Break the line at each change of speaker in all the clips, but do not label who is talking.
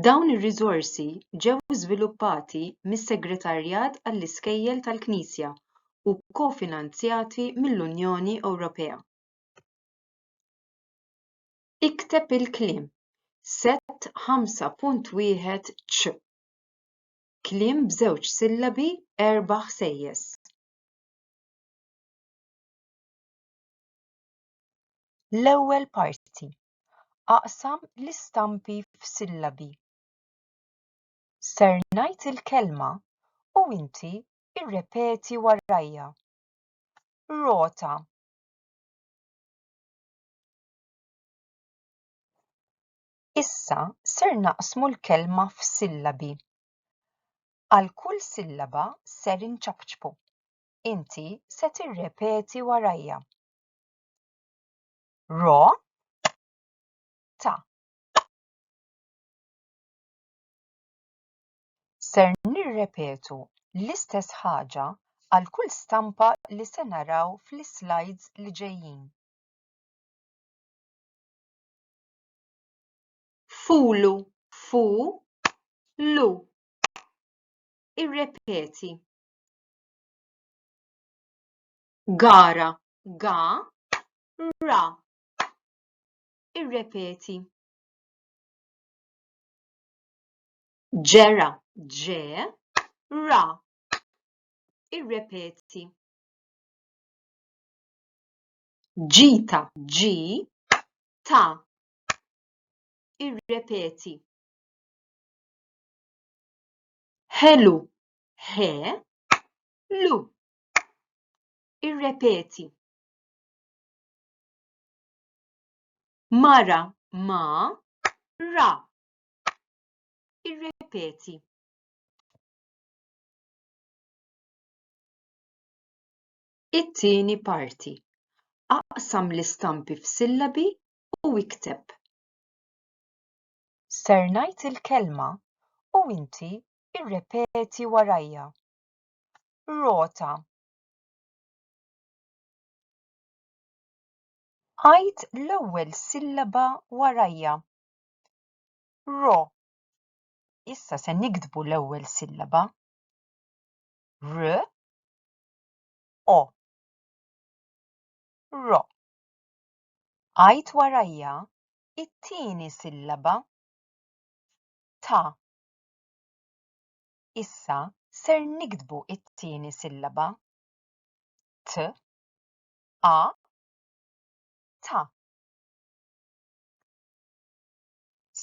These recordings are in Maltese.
Dawn ir-riżorsi ġew żviluppati mis-Segretarjat għall-Iskejjel tal-Knisja u kofinanzjati mill-Unjoni Ewropea. Ikteb il-kliem Sett 5.1 ċ. Kliem b'żewġ sillabi erba' ħsejjes. L-ewwel parti, aqsam l-istampi f'sillabi. Ser ngħid il-kelma u inti irrepeti warajja. Rota. Issa ser naqsmu l-kelma f'sillabi. Għal kull sillaba ser inċapċpu. inti se tirrepeti warajja. Ro ta. Ser nirrepetu l-istess ħaġa għal kull stampa li se naraw fl-slides li ġejjin. Fulu, fu, lu. Irrepeti. Gara, ga, ra. Irrepeti. Ġera, ġe, ra. Irrepeti. Ġita, ġi, ta. Irrepeti. Ħelu, he, lu. Irrepeti. Mara ma ra. Irrepeti. It-tieni parti. Aqsam l-istampi f'sillabi u ikteb. Ser ngħid il-kelma u inti Irrepeti warajja. Rota. Għid l-ewwel sillaba warajja. Ro. Issa se niktbu l-ewwel sillaba. R. O. Ro. Għid warajja it-tieni sillaba. Ta. Issa ser niktbu it-tieni sillaba, t, a, ta.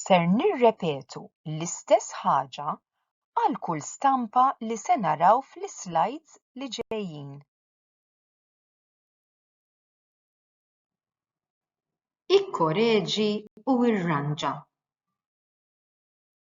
Ser nirrepetu l-istess ħaġa għal kull stampa li se naraw fl-islides li ġejjin. Ikkoreġi u irranġa.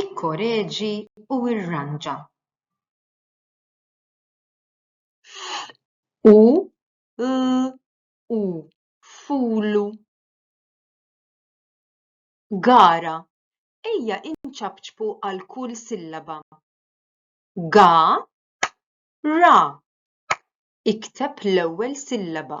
Ikkoreġi u irranġa. F, u, l, u, fulu. Gara, ejja inċapċpu għal kull sillaba. Ga, ra, ikteb l-ewwel sillaba.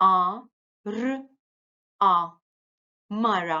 a r a mara